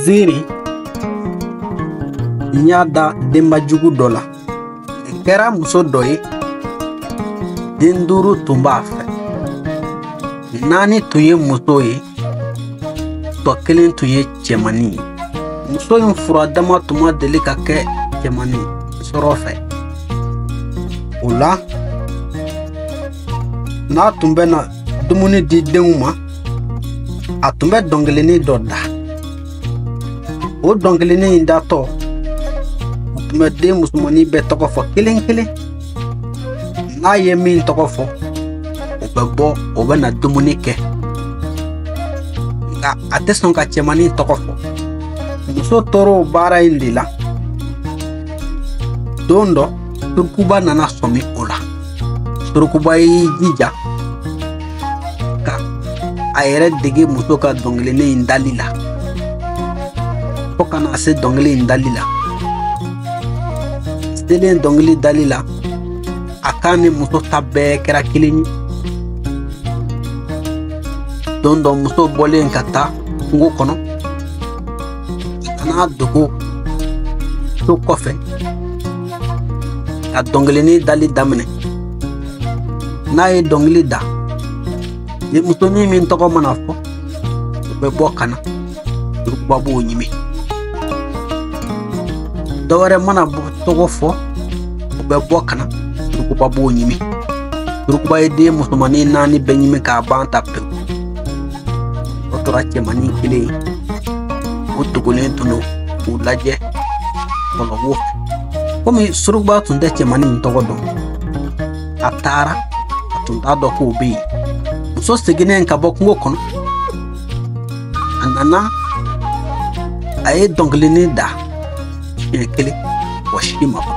Ziri n y'a da denba jugu dɔ la kɛra muso dɔ ye den duuru tun b'a fɛ naani tun ye muso ye tɔ kelen tun ye cɛmannin ye muso in fura dama tun ma deli ka kɛ cɛmannin sɔrɔ fɛ o la n'a tun bɛ na dumuni di denw ma a tun bɛ dɔnkilinin dɔ da o dɔnkilinin in datɔ u tun bɛ den musomannin bɛɛ tɔgɔ fɔ kelen kelen n'a ye min tɔgɔ fɔ o bɛ bɔ o bɛ na dumuni kɛ nka a tɛ sɔn ka cɛmannin tɔgɔ fɔ muso tor'o baara in de la don dɔ surukuba nana sɔmi o la Surukuba y'i jija ka a yɛrɛ dege muso ka dɔnkilinin in dali la fo ka na se dɔnkili in dali la selen dɔnkili dali la a kan ni muso ta bɛɛ kɛra kelen ye don dɔ muso bɔlen ka taa kungo kɔnɔ a n'a dogo so kɔfɛ ka dɔnkilinin dali daminɛ n'a ye dɔnkili da denmusonin min tɔgɔ mana fɔ o bɛ bɔ ka na surukuba b'o ɲimi dɔwɛrɛ mana tɔgɔ fɔ o bɛ bɔ ka na surukuba b'o ɲimi surukuba ye den musomannin naani bɛɛ ɲimi k'a ban ta pewu o tora cɛmannin kelen ye o dogolen tun don k'u lajɛ bɔlɔbɔ fɛ komi surukuba tun tɛ cɛmannin in tɔgɔ dɔn a taara a tun t'a dɔn k'o bɛ yen muso seginnen ka bɔ kungo kɔnɔ a nana a ye dɔnkilinin da siɲɛ kelen mɔgɔ si ma bɔ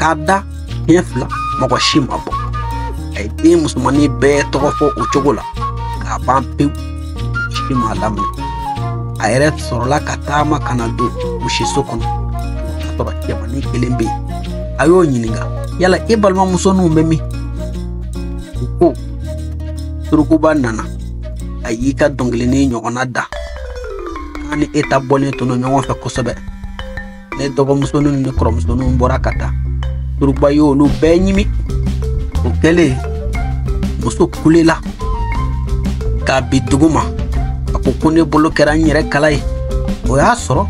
k'a da Siɲɛ fila mɔgɔ si ma bɔ a ye den musomannin bɛɛ tɔgɔ fɔ o cogo la k'a ban pewu si m'a laminɛ a yɛrɛ sɔrɔla ka taama ka na don misiso kɔnɔ k'a sɔrɔ cɛmannin kelen bɛ yen a y'o ɲininka yala e balimamuso ninnu bɛ min o ko surukuba nana a y'i ka dɔnkilinin ɲɔgɔnna da k'a ni e ta bɔlen tun don ɲɔgɔn fɛ kosɛbɛ ne dɔgɔmusonin ni kɔrɔmusoninw bɔra ka taa surukuba ye olu bɛɛ ɲimi o kɛlen muso kulela ka bin dugu ma a ko ko ne bolo kɛra n yɛrɛ kala ye o y'a sɔrɔ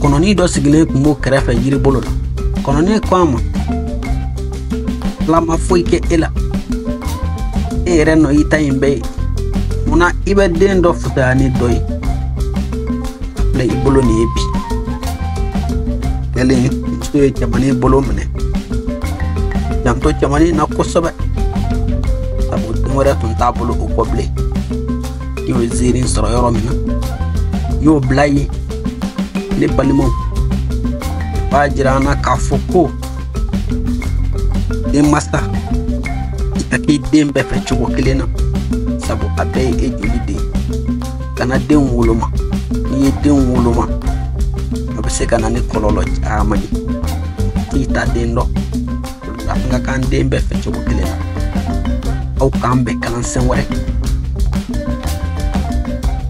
kɔnɔnin dɔ sigilen tun b'o kɛrɛfɛ yiri bolo la kɔnɔnin ko a ma ala ma foyi kɛ e la e yɛrɛ nɔ i ta in bɛɛ ye munna i bɛ den dɔ fusaya ni dɔ ye filɛ i bolo nin ye bi yali muso ye cɛmannin bolo minɛ janto cɛmannin na kosɛbɛ sabu den wɛrɛ tun t'a bolo o kɔ bilen i y'o ziiri sɔrɔ yɔrɔ min na i y'o bila yen ne balimaw b'a jira an na k'a fɔ ko denmasa i ka k'i den bɛɛ fɛ cogo kelen na sabu a bɛɛ ye e joli den kana denw woloma n'i ye denw woloma a bɛ se ka na ni kɔlɔlɔ caman ye i t'a den dɔn an ka k'an den bɛɛ fɛ cogo kelen na aw k'an bɛn kalansen wɛrɛ